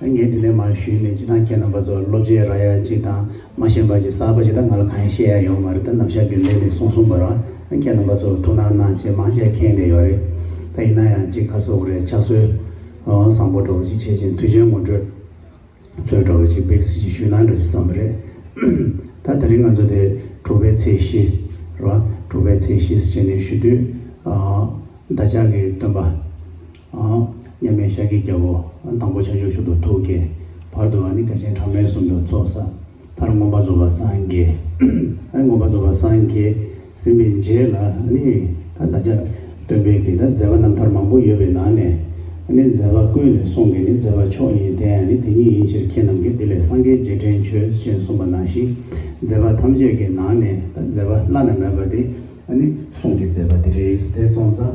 ངས་དེ་འདྲའི་མ་ཞུས་མེད་ཅི་དང་ཁྱེད་རྣམ་པ་ཚོ་སློབ་སྤྱི་ར་ཡ་ཅིག་དང་མ་ཤེས་འབའ་ཅིག་གསར་པ་ཅིག་དང་ང་ལ་གང་ཡང་བཤད་ཡ་ཡོད་མ་རེད་ད་ནམ་ཞག་རྒྱུན་ལས་ནས་སོང་སོང་བར་བ་ཁྱེད་རྣམ་པ་ཚོར་ཐུགས་སྣང་གནང་ཆེད་མང་ཆེ་ཁེངས་བསྡད་ཡོད་རེད་ད་ཡིན་ན་ཡང་ཅིག་ཁ་སོག་རེད་ཕྱག་སྲོལ་བཟང་པོ་འགྲོ་བ་ཅིག་བྱེད་ཅིང་དུས་ཆེན་ངོ་སྤྲོད་ཚོད་འགྲོ་བ་ཅིག་འབེག་སྲིད་ཅིག་ཞུས་ན་འདྲ་ཅིག་བསམ་པ་རེད་ད་ད་རིང་ང་ཚོ་དེ་དྲུག་པའི་ཚེས་བཞི་རེད་བ་དྲུག་པའི་ཚེས་བཞི་ཟེར་བྱས་ནས་ཞུ་དུས་ད་ཅག་གིས་སྟོན་པ། མཉམ་མེད་ཤཱཀྱའི་རྒྱལ་པོ། དང་པོ་བྱང་ཆུབ་ཤུགས་དང་ཐུགས་ཀྱི། བར་དུ་བ་ནི་དགའ་ཆེན་གྲངས་མེད་གསུམ་དུ་ཚོགས། ས་མཐར་མངོན་པར་རྫོགས་པར་སངས་རྒྱས། མངོན་པར་རྫོགས་པར་སངས་རྒྱས། ཟིན་པའི་རྗེས་ལ་ནི། བདག་ཅག། སྟོན་པས་ཀྱི་ནི་མཛད་པ་རྣམ་ཐར་མང་པོ་ཡོད་པའི་ནང་ནས། ནི་མཛད་པ་ཀུན་ལས་གསུང་གི་ནི་མཛད་པ་མཆོག་ཡིན་དེ་ཡང་ནི་དེ་ཉིད་ཡིན་ཕྱིར་ཁྱེད་རྣམས་ཀྱིས་འདི་ལས་སངས་རྒྱས་རྗེས་དྲན་ཆོས་ཅན་གསུངས་པ་ནང་བཞིན། མཛད་པ་ཐམས་ཅད་ཀྱི་ནང་ནས། མཛད་པ་བླ་ན་མེད་པ་དེ། ནི་གསུང་གི་མཛད་པ་དེ་རེ་རེའི་ཚེ་གསུངས་ཙང།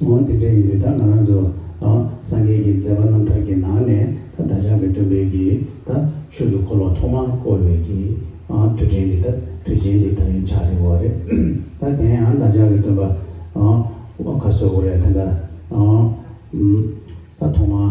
འོན་ཏེ་དེ་ཡིན་དུས་ད་ང་རང་ཚོ་སངས་རྒྱས་ཀྱི་མཛད་པ་རྣམ་ཐར་གྱི་ནང་ནས་ད་བདག་ཅག་གི་སྟོན་པའི་གི་ད་ཆོས་ཀྱི་འཁོར་ལོ་ཐོག་མར་བསྐོར་བའི་གི་དུས་དྲན་འདི་ད་དུས་ཆེན་འདི་ད་ཡིན་ཆགས་རེད་འོ་རེད་ད་དེ་ཡང་བདག་ཅག་གི་སྟོན་པ་ཨོ་ཁ་སོ་འོ་རེད་ད་ད་ཐོག་མར་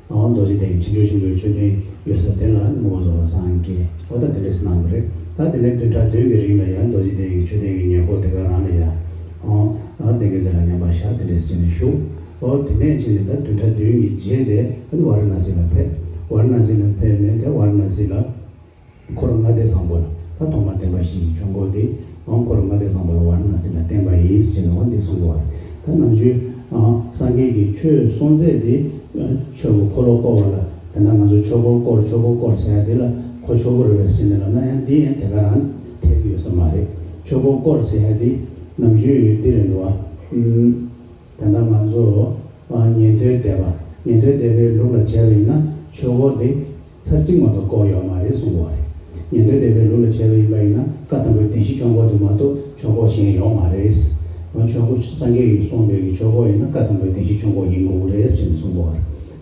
ང་བ་རྡོ་རྗེ་སྟེང་ཕྱི་དྲོའི་ཆུ་བོའི་མཆོད་རྟེན་ཡོད་ས་དེ་ལ་ངོ་བོ་རྫོགས་པ་སངས་རྒྱས་ཨོ་ད་དེ་འདྲས་སུ་སྣང་གི་རེད་ད་དེ་ནས་བདུན་ཕྲག་བདུན་གི་རིང་ལ་ཡང་རྡོ་རྗེ་སྟེང་གི་མཆོད་རྟེན་གྱི་ཉེར་མཁོ་དེ་ག་རང་ན་ཡ་ཨོ་ཨོ་དེ་གི་ཟེར་ལ་ཉམས་པ་ཞག་དེ་འདྲས་སུ་བྱས་ནས་བཞུགས་ཨོ་དེ་ནས་ཕྱིན་ནས་ད་བདུན་ཕྲག་བདུན་གྱི་རྗེས་དེ་ཨོ་ན་བ་ར་ན་སི་ལ་ཕེབས་བ་ར་ན་སི་ལ་ཕེབས་ནས་དེ་བ་ར་ན་སི་ལ། འཁོར་ལྔ་སྡེ་བཟང་པོ་ལ་ད་དུང་མ་བསྟན་པ་ཞིག་བྱུང་དགོས་ཏེ། འོན་འཁོར་ལྔ་སྡེ་བཟང་པོ་ལ་བར་སྣང་སེམས་ལ་བརྟེན་པ་ཡིན་ཞེས་ན་འོ་འདི་གསུངས་དགོས་པ་རེད། ད་ནང་ཆོས་སངས་རྒྱས་ཀྱི་ཆོས་གསུངས་ཚད་དེ་ཆོས་ཀྱི་འཁོར་ལོ་བསྐོར་བ་ལ་དེ་འདྲ་ང་ཚོ་ཆོས་འཁོར་བསྐོར་ཆོས་འཁོར་བསྐོར་ཟེར་ཡ་དེ་ལ་ཁོ་ཆོས་འཁོར་རེད་བས་ཟེར་ནས་ལབ་ན་ཡང་འདི་ཡང་དེ་ག་རང་འཐད་ཀྱི་ཡོད་ས་མ་རེད། ཆོས་འཁོར་བསྐོར་ཟེར་ཡ་དེ་ནམ་རྒྱུན་འདི་རེད་འདུག་བ། དེ་འདྲ་ང་ཚོ་ཉན་ཐོས་སྡེ་པ་ཉན་ཐོས་སྡེ་པའི་ལུགས་ལ་བྱས་པ་ཡིན་ན་ཆོས་འཁོར་དེ། ཚར་གཅིག་མ་གཏོགས་བཀོག་ཡོད་མ་རེད་གསུང་གོ་རེད། ཉན་ཐོས་སྡེ་པའི་ལུགས་ལ་བྱས་པ་ཡིན་པ་ཡིན་ན་བཀའ་གཏམ་པོའི་སྡེ་བཞི་ཆོག་འགོ་དེ་མ་གཏོགས་ཆོག་འགོ་གཞན་ཡོད་མ་རེད། འོན་ཆོག་འགོ་སངས་རྒྱས་ཡོད་གསུང་འདོད་ཀྱི་ཆོག་འགོ་ཡིན་ན་བཀའ་གཏམ་པོའི་སྡེ་བཞི་ཆོག་འགོ་ཡིན་དགོས་ཀྱི་རེད་ཅེས་གསུང་གོ།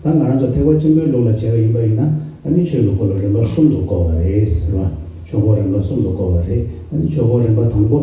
ད་ང་རང་ཚོ་ཐེག་པ་ཆེན་པོའི་ལུགས་ལ་བྱས་པ་ཡིན་པ་ཡིན་ན་ཨ་ནི་ཆོས་ལུགས་སྐོར་ལ་རིམ་པ་གསུམ་དུ་བཀོག་པ་རེད། ཆོག་འགོ་རིམ་པ་གསུམ་དུ་བཀོག་པ་རེད། ཨ་ནི་ཆོག་འགོ་རིམ་པ་དང་པོ།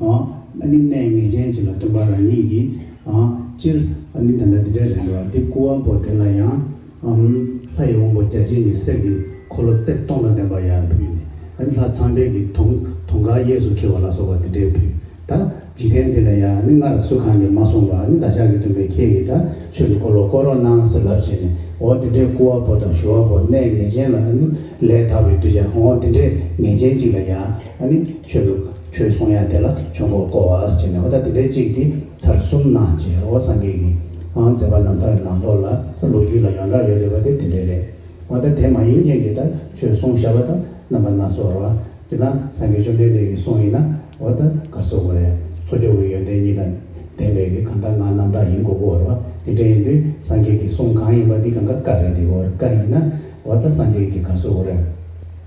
ཨ་ནི་གནས་ངེས་ཅན་གཅིག་ལ་སྟོན་པ་རང་ཉིད་ཀྱིས། སྤྱིར་ཨ་ནི་ད་ལྟ་འདི་འདྲའི་རེད་འགྲོ་བ་འདི་སྐུ་དབང་པོ་དེ་ལ་ཡང། ལྷ་ཡི་དབང་པོ་བརྒྱ་བྱིན་གྱི་གསེར་གྱི་འཁོར་ལོ་བརྩེགས་སྟོང་དང་ལྡན་པ་ཡང་ཕུལ་ནས་ཨ་ནི་ལྷ་ཚངས་དཔལ་གྱི་དུང་དུང་དཀར་གཡས་སུ་འཁྱིལ་བ་ལ་སོགས་པ་འདི་འདྲའི་ཕུལ། ད་འཇིག་རྟེན་འདི་ལ་ཡང་ཨ་ནི་སྔར་སུ་གང་གིས་མ་གསུངས་པར་ཨ་ནི་བདག་ཅག་གི་སྟོན་པས་ཁྱེད་ཀྱིས་ད་ཆོས་ཀྱི་འཁོར་ལོ་བསྐོར་རོགས་གནང་ཟེར་ལབ་བྱས་ནས་འོ་འདི་འདྲའི་སྐུ་དབང་པོ་དང་ཞུ་དབང་པོ་གནས་ངེས་ཅན་ལ་ཨ་ནི་ལས་དག་པའི་གདུལ་བྱ་འོ་འདི་འདྲའི་ངེས་ཅན་གཅིག་ལ་ཡང་ཨ་ནི་ཆོས་ལུགས། ཆོས་གསུང་ཡང་དེ་ལ་ཆོས་འཁོར་བསྐོར་བ་བྱས་ནས་ཨོ་ད་དེ་ལས་གཅིག་འདི་ཚར་གསུམ་གནང་རྗེས་ཨོ་སངས་རྒྱས་ཀྱིས་ཨང་མཛད་པ་རྣམས་དག་གི་ནང་ལོགས་ལ་ལོ་རྒྱུས་ལ་ཡོངས་གྲགས་ཡོད་རེད་པ་དེ་དེ་འདྲའི་རེད། ཨོ་ད་དེ་མ་ཡིན་རྐྱེན་གྱིས་ད་ཆོས་གསུང་ཞབས་པ་དང་རྣམ་པ་སྣ་ཚོགས་རོ། སྤྱིར་ན་སངས་རྒྱས་བཅོམ་ལྡན་འདས་ཀྱི་གསུང་ཡིན་ན་ཨོ་ད་ག་གསོལ་བ་རེད། གསོལ་ཇོ་བོའི་ཡོན་ཏན་གཉིས་དང་ལྡན་པས་ཀྱི་གང་དག་ངག་རྣམ་དག་ཡིན་དགོས་སྐོར་རོ། དེ་འདྲ་ཡིན་དུས་སངས་རྒྱས་ཀྱི་གསུང་གང་ཡིན་པ་འདི་གང་ག་བཀའ་རེད་དེ་ཨོ་ར་བཀའ་ཡིན་ན་ཨོ་ད་སངས་རྒྱས་ཀྱི་ག་གསོལ་བ་རེད།